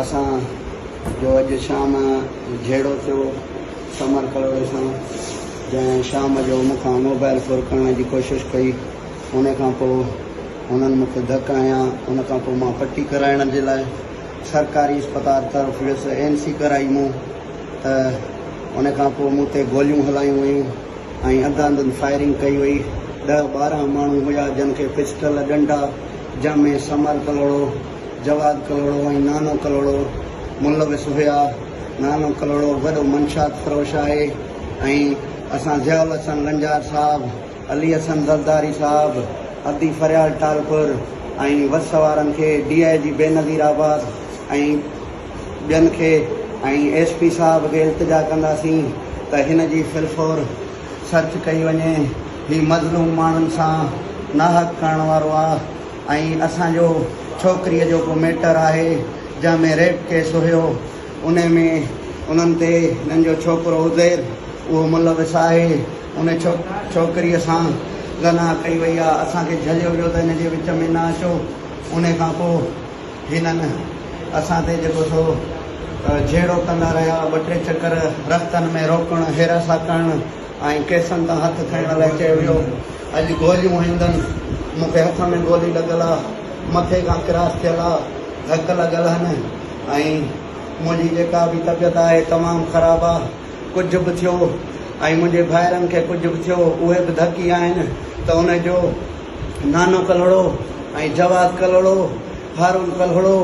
اسان جو اڄ شام جهيڙو ٿيو سمر ڪلوڙي سان، جنهن شام جو مون کان موبائل ڦر ڪرڻ جي ڪوشش ڪئي، ان کان پوء هنن مون کي ڌڪ هنيا، ان کان پوء مان پٽي ڪرائڻ جي لاء سرڪاري اسپتال طرف ويس، اين سي ڪرائي مون ته ان کان پوء مون تي گوليون هلايون ويون ۽ انڌاڌنڌ فائرنگ ڪئي وئي، ڏهه ٻارهن ماڻهو هيا جن کي پسٽل، ڏنڊا. جنهن ۾ سمر ڪلهوڙو، جواد ڪلهوڙو ۽ نانو ڪلهوڙو ملوث هيا. نانو ڪلهوڙو وڏو منشيات فروش آهي ۽ اسان ضياء الحسن لنجار صاحب، علي حسن زرداري صاحب، ادي فريال ٽالپر ۽ وس وارن کي، ڊي آء جي بينظير آباد ۽ ٻين کي ۽ ايس پي صاحب کي التجا ڪنداسين ته هن جي فلفور سرچ ڪئي وڃي. هي مظلوم ماڻهن سان ناحق ڪرڻ وارو آ ۽ اسان جو ڇوڪري جو ڪو ميٽر آهي جنهن ۾ ريپ ڪيس هيو انهي ۾ انهن تي هنن جو ڇوڪرو عزير اهو ملوث آهي انهي ڇوڪري سان زنا ڪئي وئي آ اسان کي جهليو ويو ته هن جي وچ ۾ نه اچو انهي کان پو هنن اسان تي جيڪو سو جهيڙو ڪندا رهيا ٻه ٽي چڪر رستن ۾ روڪڻ هيراسا ڪرڻ ۽ ڪيسن تان هٿ کنئڻ لاء چيو ويو، اڄ گوليون هنئدن، مون کي هٿ ۾ گولي لڳل آ، مٿي کان ڪراس ٿيل آ، ڌڪ لڳل هن ۽ منهنجي جيڪا به طبيعت آهي تمام خراب آ، ڪجهه به ٿيو ۽ منهنجي ڀائرن کي ڪجهه به ٿيو اهي به ڌڪ ئي آهن ته ان جو نانو ڪلهوڙو ۽ جواز ڪلهوڙو، هارون ڪلهوڙو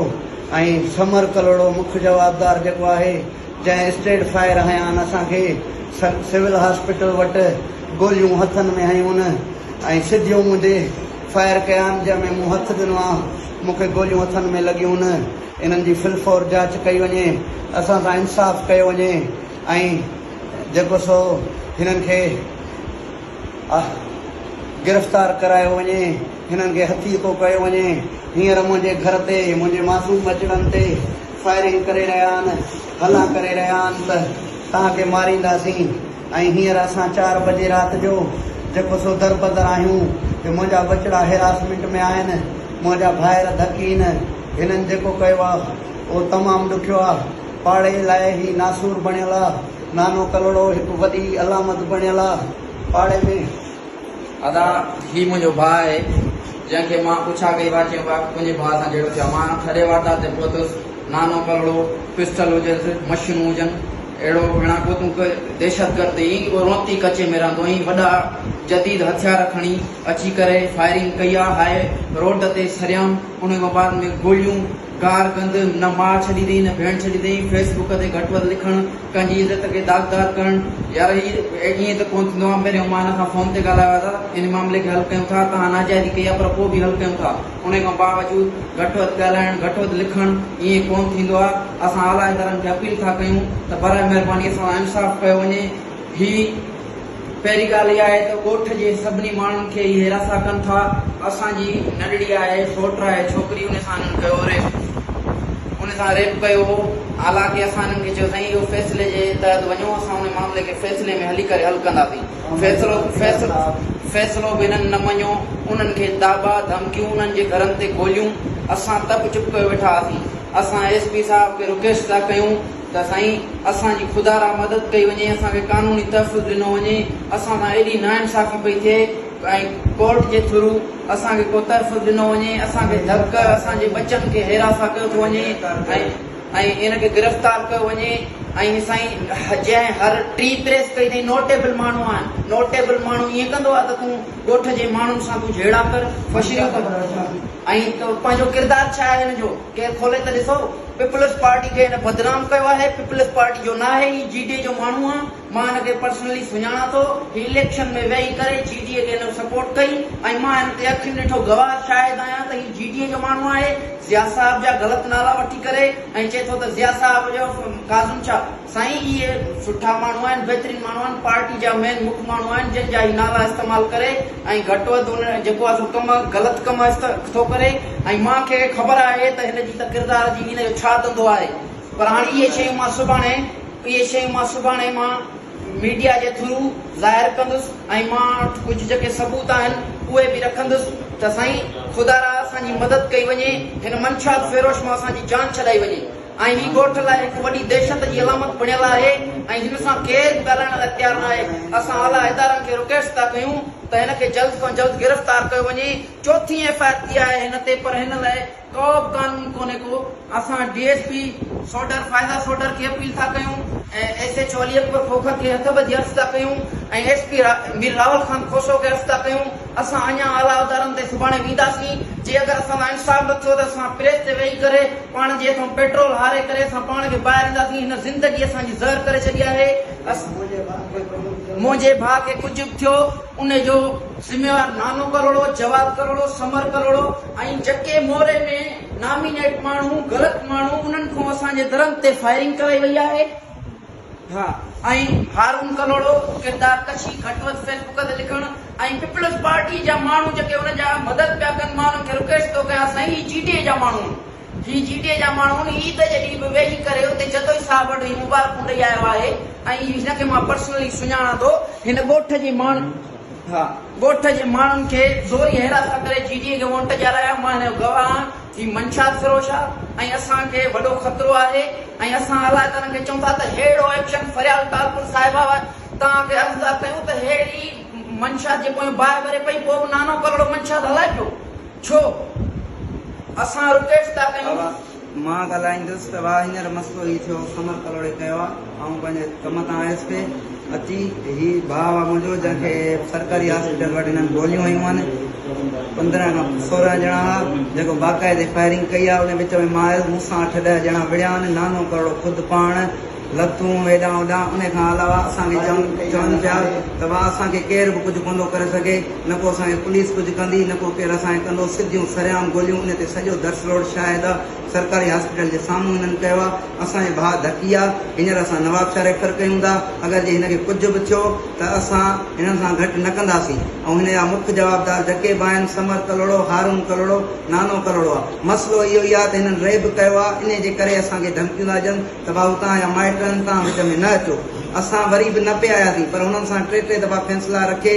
۽ سمر ڪلهوڙو مک جوابدار جيڪو آهي، جنهن اسٽريٽ فائر هنيان اسان کي سول هاسپيٽل وٽ گوليون هٿن ۾ هنيون ان ۽ سڌيون مون تي فائر ڪيان جنهن ۾ مون هٿ ڏنو آ مون کي گوليون هٿن ۾ لڳيون ان انهن جي فلفور جاچ ڪئي وڃي اسان سان انصاف ڪيو وڃي ۽ جيڪو سو هنن کي گرفتار ڪرايو وڃي هنن کي هٿيڪو ڪيو وڃي هينئر منهنجي گهر تي منهنجي معصوم ٻچڙن تي فائرنگ ڪري رهيا آهن، هلان ڪري رهيا آهن ته توهان کي مارينداسين ۽ هينئر اسان چار بجي رات جو جيڪو سو دربدر آهيون جو منهنجا ٻچڙا هيراسمينٽ ۾ آهن، منهنجا ڀائر ڌڪين، هنن جيڪو ڪيو آ اهو تمام ڏکيو آ، پاڙي لاء هي ناسور بڻيل آ، نانو ڪلهوڙو هڪ وڏي علامت بڻيل آ، پاڙي ۾. ادا هي منهنجو ڀاء آهي جنهن کي مان پڇا ڪئي وا چيم وا تنهنجي ڀاء سان جهيڙو ٿيو مان ٿڏي وارتا تي پهتس نانو ڪلهوڙو پسٽل هجس مشينون هجن اهڙو ڀيڻا ڪو تون ڪي دهشت گرد ايئن ئي رونتي ڪچي ۾ رهندو ايئن وڏا جديد هٿيار کڻي اچي ڪري فائرنگ ڪئي آ هاء روڊ تي سريام انهي مبارڪ ۾ گوليون گار گند نه ماء ڇڏي اٿئي نه ڀيڻ ڇڏي اٿئي فيس بڪ تي گهٽ وڌ لکڻ ڪنهن جي عزت کي داغدار ڪرڻ يا رهي ائين ته ڪونه ٿيندو آهي پهرين عمان سان فون تي ڳالهايو آهي ته ان معاملي کي حل ڪيون ٿا توهان ناجائزي ڪئي آهي پر پوء به حل ڪيون ٿا انهي کان باوجود گهٽ وڌ ڳالهائڻ گهٽ وڌ لکڻ ائين ڪونه ٿيندو آهي اسان اعليٰ ادارن کي اپيل ٿا ڪيون ته برائي مهرباني اسان سان انصاف ڪيو وڃي هي پهرين ڳالهه اها آهي ته ڳوٺ جي سڀني ماڻهن کي اهي رسا ڪن ٿا. اسان جي ننڍڙي آهي، سوٽ آهي، ڇوڪري ان سان هنن ڪيو هو ريپ. ان سان ريپ ڪيو هو. حالانڪه اسان هنن کي چيو سائين اهو فيصلي جي تحت وڃو اسان ان معاملي کي فيصلي ۾ هلي ڪري حل ڪنداسين. فيصلو فيصلو به هنن نه مڃيو. انهن کي داٻا، ڌمڪيون، انهن جي گهرن تي گوليون. اسان ته به چپ ڪيو ويٺا هئاسين. اسان ايس پي صاحب کي رڪيسٽ ٿا ڪيون. ته سائين اسان جي خدا را مدد ڪئي وڃي اسان کي قانوني تحفظ ڏنو وڃي اسان سان ايڏي نا انصافي پئي ٿئي ۽ ڪورٽ جي ٿرو اسان کي ڪو تحفظ ڏنو وڃي اسان کي ڌڪ اسان جي ٻچن کي هيراسان ڪيو ٿو وڃي ۽ ان کي گرفتار ڪيو وڃي ۽ سائين جنهن هر ٽي پريس ڪئي ٿئي نوٽيبل ماڻهو آهن نوٽيبل ماڻهو ائين ڪندو آهي ته تون ڳوٺ جي ماڻهن سان تون جهيڙا ڪر فشريون ڪر ۽ پنهنجو ڪردار ڇا آهي ان جو ڪنهن کولي ته ڏسو. پيپلز پارٽي کي هن بدنام ڪيو آهي، پيپلز پارٽي جو ناهي، هي جي ڊي اي جو ماڻهو آ، مان هن کي پرسنلي سڃاڻان ٿو، هي اليڪشن ۾ ويهي ڪري جي ڊي اي کي هن سپورٽ ڪئي ۽ مان هن تي اکين ڏٺو گواهه شاهد آهيان ته هي جي ڊي اي جو ماڻهو آهي، ضياء صاحب جا غلط نالا وٺي ڪري ۽ چئي ٿو ته ضياء صاحب جو ڪاظم شاهه. سائين اهي سٺا ماڻهو آهن بهترين ماڻهو آهن پارٽي جا مين مک ماڻهو آهن جن جا هي نالا استعمال ڪري ۽ گهٽ وڌ هن جيڪو آهي سو ڪم غلط ڪم است ٿو ڪري ۽ مان کي خبر آهي ته هن جي ته ڪردار جي هن جو ڇا ڌنڌو آهي پر هاڻي اهي شيون مان سڀاڻي اهي شيون مان سڀاڻي مان ميڊيا جي ٿرو ظاهر ڪندس ۽ مان وٽ ڪجهه جيڪي ثبوت آهن اهي به رکندس ته سائين خدارا اسان جي مدد ڪئي وڃي هن منشيات فيروش مان اسان جي جان ڇڏائي وڃي. ۽ هي ڳوٺ لاء هڪ وڏي دهشت جي علامت بڻيل آهي ۽ هن سان ڪير به ڳالهائڻ لاء تيار ناهي، اسان اعليٰ ادارن کي رڪويسٽ ٿا ڪيون ته هن کي جلد کان جلد گرفتار ڪيو وڃي، چوٿين ايف آء آر ٿي آهي هن تي پر هن لاء ڪوبه قانون ڪونهي ڪو. اسان D S P Sodhar Faiza Sodhar کي اپيل ٿا ڪيون ۽ S H O Ali Akbar Khokhar کي هٿ ٻڌي عرض ٿا ڪيون ۽ ايس پي مير راول خان کوسو کي عرض ٿا ڪيون اسان اڃا اعليٰ ادارن تي سڀاڻي وينداسين، جي اگر اسان سان انصاف نه ٿيو ته اسان پريس تي ويهي ڪري پاڻ جي هٿئون پيٽرول هاري ڪري اسان پاڻ کي ٻاهر اينداسين، هن زندگي اسان جي زهر ڪري ڇڏي آهي. منهنجي ڀاء کي ڪجهه به ٿيو ان جو ذميوار نانو ڪروڙو، جواد ڪروڙو، سمر ڪروڙو ۽ جکي موري ۾ نامينيٽ ماڻهو غلط ماڻهو انهن کان اسان جي درن تي فائرنگ ڪرائي وئي آهي. ها ۽ هارون ڪنوڙو ڪردار ڪشي گهٽ وڌ فيسبوڪ تي لکڻ ۽ پيپلز پارٽي جا ماڻهو جيڪي ان جا مدد پيا ڪن مان انهن کي رڪويسٽ ٿو ڪيان سائين هي جي ڊي اي جا ماڻهو آهن هي جي ڊي اي جا ماڻهو آهن عيد جي ڏينهن به ويهي ڪري اتي جتوئي صاحب وٽ هي مبارڪون ڏئي آيو آهي ۽ هن کي مان پرسنلي سڃاڻان ٿو هن ڳوٺ جي ماڻهن ها ڳوٺ جي ماڻهن کي زوري حراست ڪري جي ڊي اي کي وونٽ ڏيارايا مان هن جو گواهه آهيان. هي منشيات فروش آ ۽ اسان کي وڏو خطرو آهي ۽ اسان علائقدارن کي چئون ٿا ته ههڙو ايڪشن فريال ٽالپر صاحب آء توهان کي عرضدار ڪيون ته ههڙي منشيات جي پويان باهه ڀري پئي پوء به نانو ڪلهڙو منشيات هلائبيو ڇو اسان رڪويسٽ ٿا ڪيون. اوا مان ڳالهائيندس ته وا هينئر مسئلو هي ٿيو قمر ڪلهوڙي ڪيو آ. آئون پنهنجي ڪم تان آيس پئي اچي هي ڀاء آ منهنجو جنهن کي سرڪاري هاسپيٽل وٽ هنن گوليون هنيون آهن پندرهن کان سورهن ڄڻا ها جيڪو باقاعدي فائرنگ ڪئي آ ان وچ ۾ مان آيس مون سان اٺ ڏهه ڄڻا وڙهيا آهن نانو ڪرڙو خود پاڻ لتون هيڏان هوڏان ان کان علاوه اسان کي چون چون پيا ته ڀاء اسان کي ڪير به ڪجهه ڪوندو ڪري سگهي نه ڪو اسان کي پوليس ڪجهه ڪندي نه ڪو ڪير اسان کي ڪندو سڌيون سرعام گوليون ان تي سڄو درس روڊ شاهد آ سرڪاري هاسپيٽل جي سامهون هنن ڪيو آ اسان جي ڀاء ڌڪي آ هينئر اسان نوابشاهه ريفر ڪيون ٿا اگر جي هن کي ڪجهه به ٿيو ته اسان هنن سان گهٽ نه ڪنداسين ۽ هن جا مک جوابدار جڪي به آهن سمر ڪلهوڙو هارون ڪلهوڙو نانو ڪلهوڙو آ مسئلو اهو ئي آ ته هنن ريب ڪيو آ انهي جي ڪري اسان کي ڌمڪيون ٿا ڏين ته ڀائو تهان جا مائٽ آهن تهان وچ ۾ نه اچو اسان وري به نه پي آياسين پر هنن سان ٽي ٽي دفعا فيصلا رکي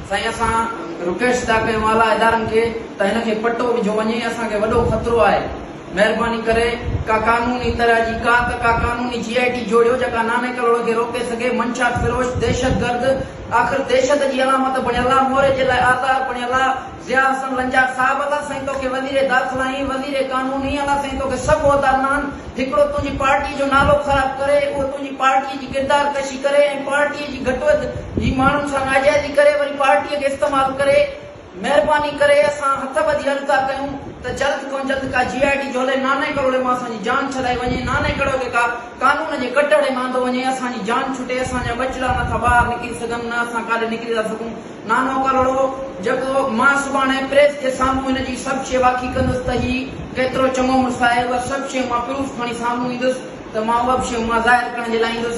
سائين اسان رڪيسٽ ٿا ڪيون اعليٰ ادارن کي ته هن کي پٽو وجهو وڃي اسان کي وڏو خطرو آهي مهرباني ڪري ڪا قانوني طرح جي ڪا ته ڪا قانوني جي آء ٽي جوڙيو جيڪا ناني ڪلهوڙي کي روڪي سگهي منشيات فروش دهشت گرد آخر دهشت جي علامت بڻيل آ موري جي لاء آزار بڻيل آ ضياء حسن لنجار صاحب الا سائين توکي وزير داخلا ۽ وزير قانون ۽ الا سائين توکي سڀ عهدا ڏنان هڪڙو تنهنجي پارٽي جو نالو خراب ڪري، اهو تنهنجي پارٽي جي ڪردار ڪشي ڪري ۽ پارٽي جي گهٽ وڌ جي ماڻهن سان ناجائزي ڪري وري پارٽي کي استعمال ڪري، مهرباني ڪري اسان هٿ ٻڌي عرض ٿا ڪيون ته جلد کان جلد ڪا جي آء ٽي جو هلي نانء ڪروڙي مان اسان جي جان ڇڏائي وڃي، نانء ڪروڙي کي ڪا قانون جي ڪٽهڙي ۾ آندو وڃي، اسان جي جان ڇٽي، اسان جا ٻچڙا نه ٿا ٻاهر نڪري سگهن نه اسان ڪاڏي نڪري ٿا سگهون. نانو ڪرڙو، جيڪو مان سڀاڻي پريس جي سامهون هن جي سڀ شيء واکي ڪندس ته هي ڪيترو چڱو مڙس آهي، اها سڀ شيء مان پروف کڻي سامهون ايندس ته مان اها به شيء اها ظاهر ڪرڻ جي لاء ايندس.